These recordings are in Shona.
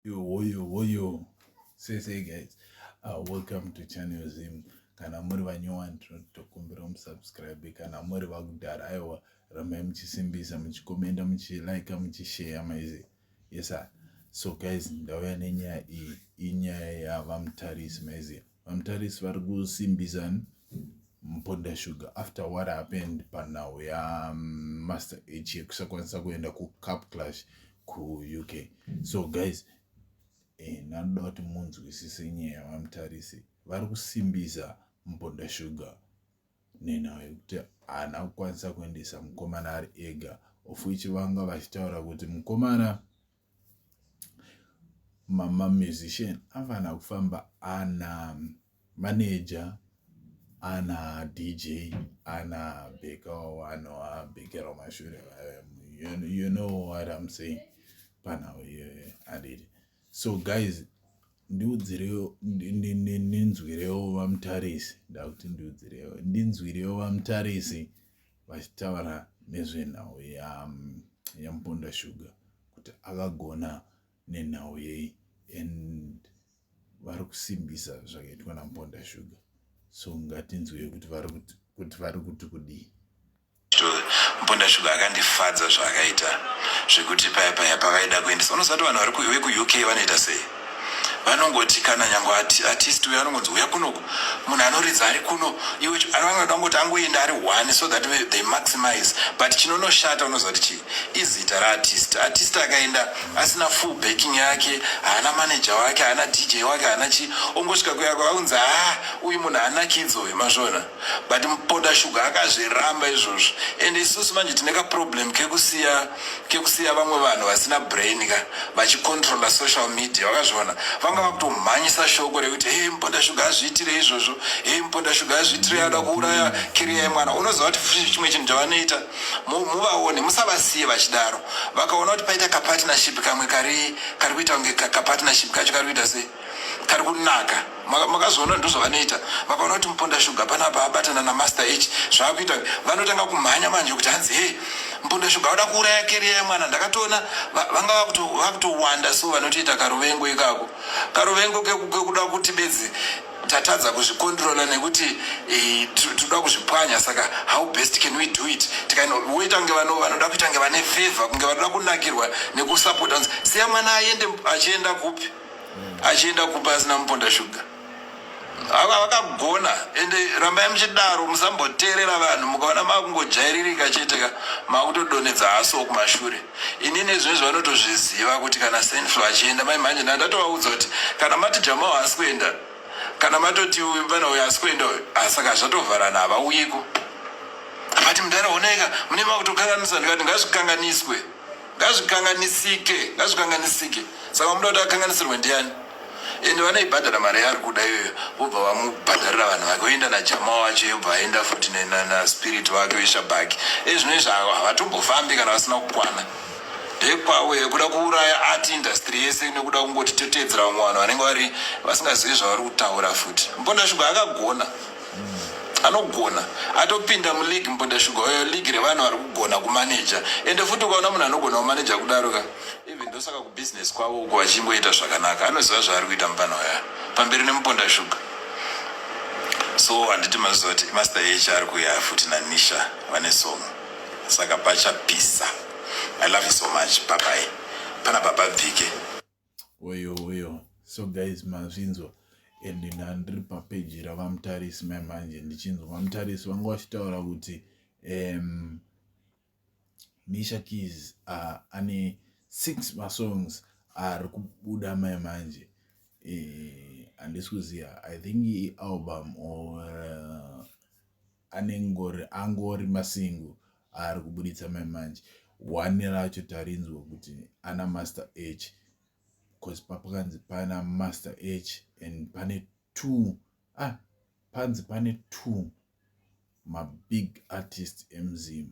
Yo, woyo, woyo. Say, say, guys. Uh, welcome to Channel Zim. Kana muri vanyowani tinotokumbira musubscribe. Kana muri vakudhara aiwa ramai muchisimbisa muchikomenda muchilike muchisheya maizi. Yes, sir. So guys, ndauya nenyaya iyi. Inyaya yava mutarisi maizi. VaMutarisi vari kusimbisa Mponda Sugar after what happened panhau yaMaster mm, H yekusakwanisa kuenda kuCup Clash kuUK. So guys, eh, ndanoda kuti munzwisise nyaya yaVaMutarisi vari kusimbisa Mponda Sugar nenhau yekuti haana kukwanisa kuendesa mukomana ari ega of which vanga vachitaura kuti mukomana ma musician anofanira kufamba ana manager ana DJ ana bhekawo anobhekerawo mashure you know what I'm saying panhau iyoyo handiti so guys ndiudzirewo ndinzwirewo vamutarisi ndakuti ndiudzirewo ndinzwirewo vamutarisi vachitaura nezvenhau yamuponda shuga kuti akagona nenhau yei and vari kusimbisa zvakaitwa namuponda shuga so ngatinzwei kuti vari kuti kudii mponda shuga akandifadza zvaakaita zvekuti paya paya pavaida kuendesa unoziva kuti vanhu vekuuk vanoita sei vanongoti kana nyangwe artist uyo anongonzi uya kuno munhu anoridza ari kuno iwe anoda kungoti angoenda ari one so that they maximize but chinonoshata unoziva kuti chii izita raartist artist akaenda asina full backing yake haana manager wake haana dj wake haana chii ongosvika kuyako aunzi haa ah, uyu munhu haana kidzo mazvona but muponda shuga akazviramba izvozvo and isusu manje tine kaproblem kekusiya kekusiya vamwe vanhu vasina brain ka vachicontrola social media vakazviona vanga vakutomhanyisa shoko rekuti hei muponda shuga azviitire izvozvo hei muponda shuga azviitire ada kuuraya kiriya yemwana unoziva kuti chimwe chinhu chavanoita muvaone musavasiye vachidaro vakaona kuti paita kapartnership kamwe kari kari kuita kunge kapartnership kacho kari kuita sei kari kunaka makazoona ndozvavanoita vakaona kuti muponda shuga panapa abatana namaster h zvaakuita vanotanga kumhanya manje kuti hanzi hei muponda shuga vada kuuraya keriya yemwana ndakatoona vanga vakutowanda so vanotoita karuvengo ikako karuvengo kekuda kuti bedzi tatadza kuzvikontrola nekuti eh, tinoda kuzvipwanya saka how best can we do it tikanoita kunge vano vanoda kuita kunge vane favor kunge vanoda kunakirwa nekusapota siya mwana aende achienda kupi achienda kupa asina muponda shuga ava vakagona ende rambai muchidaro musamboteerera vanhu mukaona makungojairirika chete ka makutodonedza haso kumashure ini nezvino izvi vanotozviziva kuti kana senflo achienda mai mhanje nda ndatovaudza kuti kana mati jamao haasi kuenda kana matoti vana uyo haasi kuenda uyo asaka ah, zvatovharana havauyiko vati mudara oneka mune makutokanganisa ndikati ngazvikanganiswe ngazvikanganisike ngazvikanganisike saka muda kuti akanganisirwe ndiani ende vanoibhadhara mari yaari kuda iyoyo vobva vamubhadharira vanhu vake oenda najama wacho yobva aenda futi naspirit vake veshabhaki e zvino izvi havatombofambi kana vasina kukwana ndekwawo yekuda kuuraya art industry yese nekuda kungoti toteedzera vamwe vanhu vanenge vari vasingazivi zvavari kutaura futi mbonda shuga akagona anogona atopinda muleague mubonda shuga oyo league revanhu vari kugona kumaneja ende futi ukaona munhu anogona kumaneja kudaro ka even ndosaka kubusiness kwavo uko vachingoita zvakanaka anoziva zvaari kuita mupana waya pamberi nemubonda shuga so handiti maziva kuti master h ari kuya futi nanisha vane song saka pachapisa i love you so much babai pana baba bvike Oyo oyo so guys mazvinzwa and ndandiri papeji ravamutarisi mai manje ndichinzwa vamutarisi vanga vachitaura kuti um, misha keys uh, ane six masongs ari kubuda mai manje eh, handisi e, kuziva i think ialbum or uh, anengori angori masingo aari kubuditsa mai manje one racho tarinzwa kuti ana master h bcause papakanzi pana master h and pane two ah panzi pane two mabig artist emzim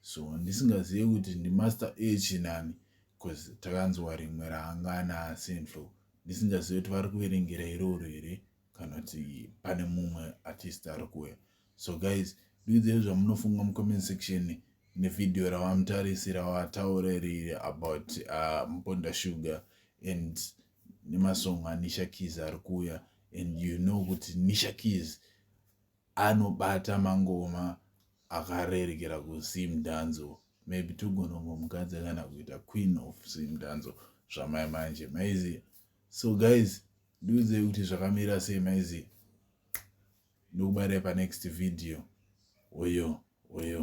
so ndisingazive kuti ndimaster h nani bcause takanzwa rimwe raanga ana central ndisingazive kuti vari kuverengera iroro here kana kuti pane mumwe artist ari kuuya so guys dudzei zvamunofunga mucomment section nevideo ravamutarisira vataurerire about uh, mponda sugar and nemasong anisha keys ari kuuya and you know kuti nisha keys anobata mangoma akarerekera kusim danzo maybe togonongomukadza kana kuita queen of sim danzo zvamai manje maiziva so guys ndiudzei kuti zvakamira sei maizi ndokubairai panext video oyo oyo